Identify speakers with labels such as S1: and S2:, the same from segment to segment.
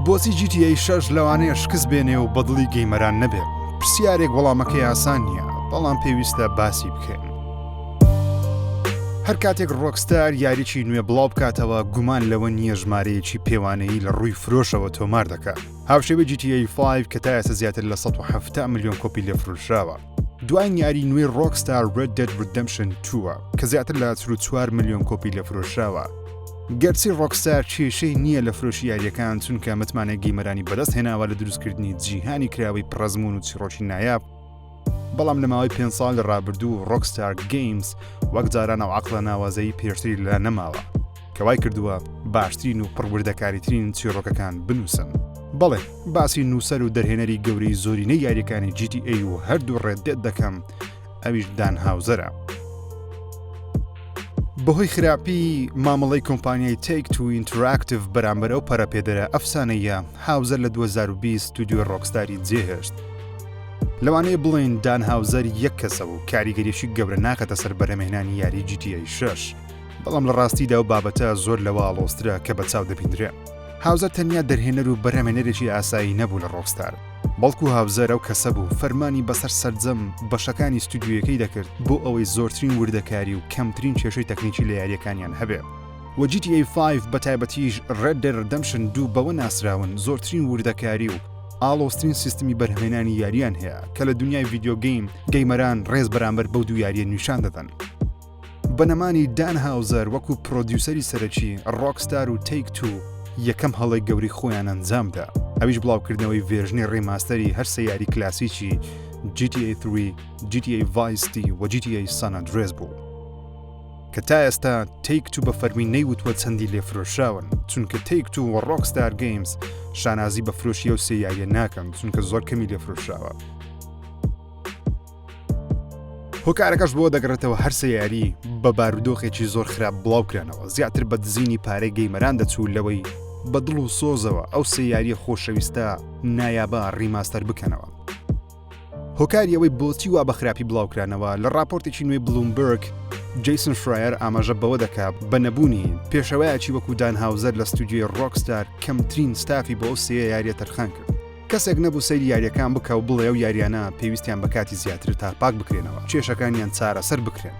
S1: بۆچی جی تی ئەی شەش لەوانەیە شکست بێنێ و بەدڵی گەیمەران نەبێ پرسیارێک وەڵامەکەی ئاسان نییە بەڵام پێویستە باسی بکەین هەر کاتێک ڕۆکستار یاریی نوێ بڵاو بکاتەوە گومان لەوە نییە ژمارەیەکی پێوانەیی لە ڕووی فرۆشەوە تۆمار دەکات هاوشێوە جیTI5 کە تا ئێستا زیاتر لە 1970 میلیۆن کۆپی لێفرۆشراوە دوایین یاری نوێی ڕۆکستار Red Dead Redemption 2ە کە زیاتر لە 4 میلیۆن کۆپی لە فرۆشراوە گەرچی ڕۆکستار کێشەی نییە لە فرۆشی یاریەکان چونکە متمانە گیمەرانی بەدەست هێناوە لە دروستکردنی جیهانی کراوەی پڕەزمون و چیڕۆکی نایاب بەڵام لە ماوەی پێ ساڵ لە ڕابردوو ڕۆکستار گەیمز وەک جاران و عقلە ناوازەی پێشتری لە نەماوە کە وای کردووە باشترین و پڕوردەکاریترین چیڕۆکەکان بنووسن. بەڵێ، باسی نووسەر و دەرهێنەری گەورەی زۆرینەی یاریەکانی GTA و هەردوو ڕێددێت دەکەم، ئەویش دان هاوزەرە. بەهۆی خراپی مامەڵەی کۆمپانیای تێک تو ئینتراکتیڤ بەرامبەر ئەو پەرەپێدەرە ئەفسانەیە هاوزەر لە 2020 ستودیۆی ڕۆکستاری جێهێشت لەوانەیە بڵێن دان هاوزەر یەک کەسە و کاریگەریشی گەورە ناکەتە سەر بەرەمێنانی یاری جیتیای شش بەڵام لە ڕاستیدا و بابەتە زۆر لەوە ئاڵۆزترە کە بە چاو دەبیندرێ هاوزەر تەنیا دەرهێنەر و بەرهەمێنەرێکی ئاسایی نەبوو لە ڕۆکستار بەڵکو هاوزەر ئەو کەسە بوو فەرمانی بەسەر سەرجەم بەشەکانی ستودیویەکەی دەکرد بۆ ئەوەی زۆرترین وردەکاری و کەمترین کێشەی تەکنیکی لە یاریەکانیان هەبێ و GTA 5 بە تایبەتیش Red Dead Redemption دوو بەوە ناسراون زۆرترین وردەکاری و ئاڵۆسترین سیستمی بەرهمێنانی یاریان هەیە کە لە دنیای ڤیددیۆگەیم گەیمەران ڕێز بەرامبەر بەو دوو یاریە نیشان دەدەن. بە نەمانی دان هاوزەر وەکو پرۆدیوسەری سەرەکی، ڕۆکستار و تەیک توو یەکەم هەڵەی گەورەی خۆیان ئەنجام دا، ئەویش بڵاوکردنەوەی ڤێرژنی ڕیماستەری هەر سێ یاری کلاسیکی جی تی ئەی تری، جی تی ئەی ڤایس ستی و جی تی ئەی سان ئەندرێس بوو کە تا ئێستا تەیک توو بە فەرمی نەیوتووە چەندی لێ فرۆشراون چونکە تەیک توو و ڕۆکستار گەیمز شانازی بە فرۆشی ئەو سێ یاریە ناکەن چونکە زۆر کەمی لێ فرۆشراوە. هۆکارەکەش بۆ دەگەڕێتەوە هەرسە یاری بە بارودۆخێکی زۆر خراپ بڵاو کرانەوە زیاتر بە دزینی پارەی گەیمەران دەچوو لەوەی بە دڵ و سۆزەوە ئەو سێ یاریە خۆشەویستە نایابە ڕیماستەر بکەنەوە هۆکاریەوەی بۆچی وا بە خراپی بڵاوکرانەوە لە راپۆرتێکی نوێی بلومبرگ جیسن فرایەر ئاماژە بەوە دەکا بە نەبوونی پێشەوەیەکی وەکو دان هاوزەر لە ستودیوی ڕۆکستار کەمترین ستافی بۆ سێ یاریە تەرخان کرد کەسێک نەبوو سەیری یاریەکان بکا و بڵێ ئەو یاریانە پێویستیان بە کاتی زیاترە تا پاک بکرێنەوە کێشەکانیان چارەسەر بکرێن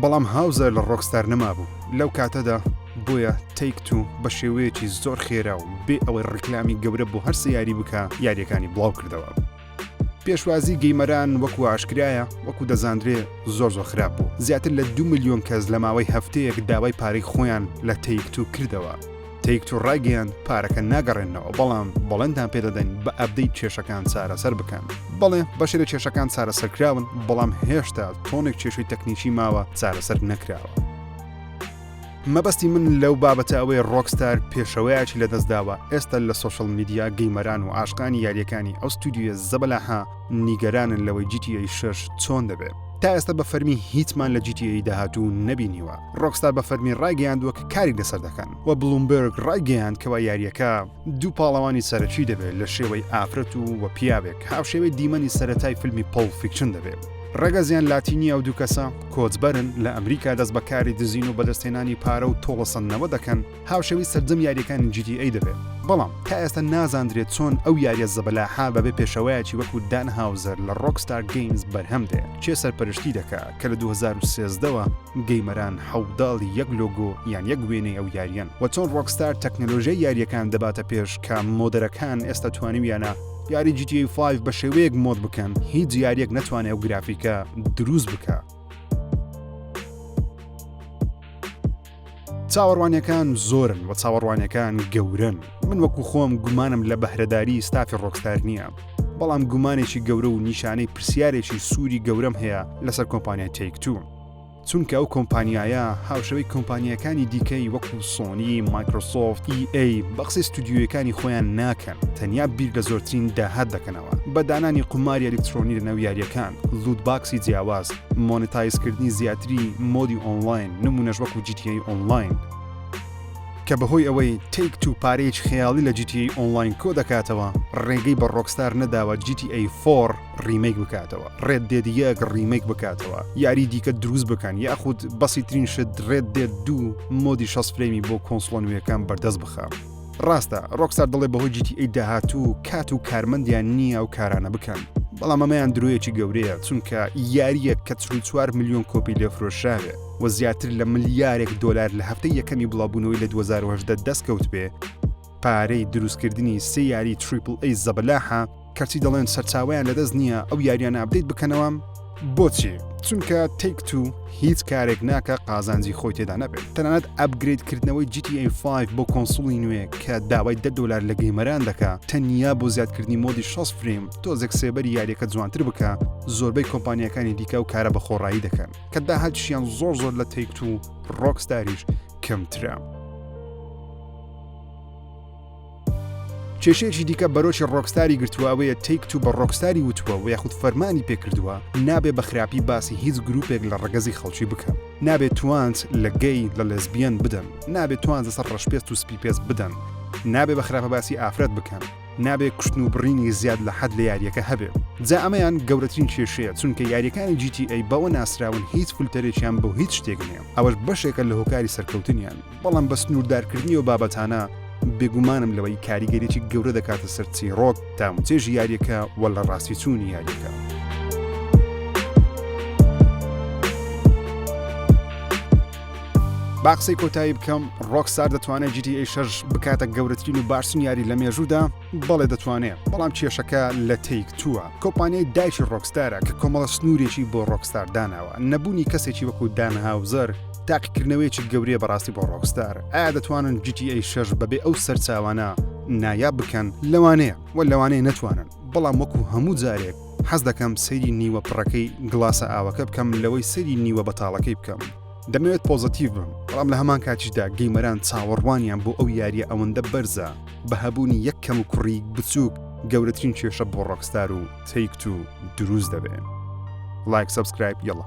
S1: بەڵام هاوزەر لە ڕۆکستار نەمابوو لەو کاتەدا بۆیە تەیک تو بە شێوەیەکی زۆر خێرا و بێ ئەوەی ڕیکلامی گەورە بۆ هەرسێ یاری بکا یاریەکانی بڵاو کردەوە پێشوازی گەیمەران وەکو ئاشکرایە وەکو دەزاندرێ زۆر زۆر خراپ بوو زیاتر لە دو ملیۆن کەس لە ماوەی هەفتەیەک داوای پارەی خۆیان لە تەیک تو کردەوە تەیک توو ڕایگەیاند پارەکە ناگەڕێننەوە بەڵام بەڵێنتان پێدەدەین بە ئەپدەیت کێشەکان چارەسەر بکەن. بەڵێ بەشێک لە کێشەکان چارەسەرکراون بەڵام هێشتا تۆنێک کێشەی تەکنیکی ماوە چارەسەر نەکراوە. مەبەستی من لەو بابەتە ئەوەیە ڕۆکستار پێشەوەیەکی لەدەستداوە ئێستا لە سۆشڵ میدیا گەیمەران و عاشقانی یارییەکانی ئەو ستودیۆیە زەبەلاحە نیگەرانن لەوەی GTA شەش چۆن دەبێت. تا ئێستا بە فەرمی هیچمان لە GTA داهاتوو نەبینیوە. ڕۆکستار بە فەرمی ڕایگەیاندووە کە کاری لەسەر دەکەن و بلومبێرگ ڕایگەیاند کەوا یارییەکە دوو پاڵەوانی سەرەکی دەبێت لە شێوەی ئافرەت و و پیاوێک هاوشێوەی دیمەنی سەرەتای فیلمی پۆڵ فیکشن دەبێت. ڕەگەزیان لاتی نییە ئەو دوو کەسە کۆچبەرن لە ئەمریکا دەست بە کاری دزین و بەدەستهێنانی پارە و تۆڵەسەندنەوە دەکەن. هاوشێوەی سەرجەم یاریەکانی جی تی ئەی دەبێت، بەڵام تا ئێستا نازاندرێت چۆن ئەو یاریە زەبەلاحە بەبێ پێشەوایەکی وەکو دان هاوزەر لە ڕۆکستار گەیمز بەرهەم دێ، کێ سەرپەرشتی دەکا کە لە دوو هەزار و سێزدە وە گەیمەران حەوداڵی یەک لۆگۆ یان یەک وێنەی ئەو یاریەن وە چۆن ڕۆکستار تەکنەلۆژیای یاریەکان دەباتە پێش کە مۆدەرەکان ئێستا توانیویانە یاری جی تی ئەی فایڤ بە شێوەیەک مۆد بکەن هیچ یاریەک نەتوانێ ئەو گرافیکە دروست بکا. چاوەڕوانیەکان زۆرن و چاوەڕوانەکان گەورن من وەکو خۆم گومانم لە بەهرەداری ستافی ڕۆکستار نییە بەڵام گومانێکی گەورە و نیشانەی پرسیارێکی سووری گەورەم هەیە لەسەر کۆمپانیا تێکتو چونکە ئەو کۆمپانیایە هاوشەوەی کۆمپانیەکانی دیکەی وەکو سۆنی مایکرۆسۆفت EA بەقسی ستودیویەکانی خۆیان ناکەن تەنیا بیر لە زۆرترین داهات دەکەنەوە بە دانانی قوماری ئەلکترۆنی لە ناو یاریەکان لوود باکسی جیاواز مۆنتایزکردنی زیاتری مۆدی ئۆنلاین نمونەش وەکو جیتیی ئۆنلاین کە بەهۆی ئەوەی تیک تو پارەیەکی خەیاڵی لە جیتیی ئۆنلاین کۆ دەکاتەوە ڕێگەی بە ڕۆکستار نەداوە جیتیی فۆڕ ڕیمەیک بکاتەوە ڕێد دێد یەک ڕیمەیک بکاتەوە یاری دیکە دروست بکەن یاخود بەسیترین شت ڕێد دێد دوو مۆدی شەست فرەیمی بۆ کۆنسڵۆ نوێیەکان بەردەست بخە. ڕاستە ڕۆکسار دەڵێ بەهۆی جیتی ئەی داهاتوو کات و کارمەندیان نییە و کارانە بکەن بەڵام ئەمەیان درۆیەکی گەورەیە چونکە یاریەک کە چوار میلیۆن کۆپی لێفرۆشراوێ و زیاتر لە ملیارێک دۆلار لە هەفتەی یەکەمی بڵاوبوونەوەی لە 2010 دەستکەوت بێ پارەی دروستکردنی سێ یاری تریپل ئەی زەبەلاحە کەچی دەڵێن سەرچاوەیان لەدەست نییە ئەو یاریانە ئەبدەیت بکەنەوە بۆچی چونکە تێک تو هیچ کارێک ناکە قازانجی خۆی تێدا نەبێت تەنانەت ئەبگریت کردنەوەی GTA5 بۆ کۆنسوڵی نوێ کە داوای دە دلار لە گەیمەران دەکە تەنیا بۆ زیادکردنی مۆدی 6 فریم تۆزێک سێبەری یاریەکە جوانتر بکە زۆربەی کۆمپانیەکانی دیکە و کارە بە خۆڕایی دەکەن کە داهاتشیان زۆر زۆر لە تێک تو ڕۆکسداریش کەمترە. کێشەیەکی دیکە بەرۆکی ڕۆکستاری گرتووە ئەوەیە تیک تو بە ڕۆکستاری وتووە و یاخود فەرمانی پێکردووە نابێ بە خراپی باسی هیچ گروپێک لە ڕگەزی خەڵکی بکە نابێت توانج لە گەی لە لەزبیەن بدەن نابێت توان لەسەر ڕەشپێست و سپی پێست بدەن نابێ بە خراپە باسی ئافرەت بکەن نابێ کوشتن و بڕینی زیاد لە حەد لە یاریەکە هەبێ جا ئەمەیان گەورەترین کێشەیە چونکە یاریەکانی جیتی ئەی بەوە ناسراون هیچ فلتەرێکیان بۆ هیچ شتێک نیە ئەوەش بەشێکە لە هۆکاری سەرکەوتنیان بەڵام بە سنووردارکردنی ئەو بابەتانە بێگومانم لەوەی کاریگەریی گەورە دەکاتە سەر چیڕۆک تاوچێژی یاریەکە وە لە ڕاستی چوونی یاریەکە. باقسەی کۆتایی بکەم ڕۆکسار دەتوانێت جیتی ئەی شەش بکاتە گەورەترین و باشترین یاری لە مێژوودا بەڵێ دەتوانێ، بەڵام کێشەکە لە تەیک تووە، کۆمپانیای دایکی ڕۆکستارە کە کۆمەڵە سنوورێکی بۆ ڕۆکستار داناوە، نەبوونی کەسێکی وەکو دان هاوزەر تاقیکردنەوەیەکی گەورەیە بەڕاستی بۆ ڕۆکستار، ئایا دەتوانن جی تی ئەی شەش بەبێ ئەو سەرچاوانە نایاب بکەن؟ لەوانەیە و لەوانەیە نەتوانن، بەڵام وەکو هەموو جارێک حەز دەکەم سەیری نیوە پڕەکەی گڵاسە ئاوەکە بکەم لەوەی سەیری نیوە بەتاڵەکەی بکەم، دەمەوێت پۆزەتیڤ بم، بەڵام لە هەمان کاتیشدا گەیمەران چاوەڕوانیان بۆ ئەو یارییە ئەوەندە بەرزە، بە هەبوونی یەک کەموکوڕی بچووک گەورەترین کێشە بۆ ڕۆکستار و تەیک تو دروست دەبێ لایک سبسکرایب یڵە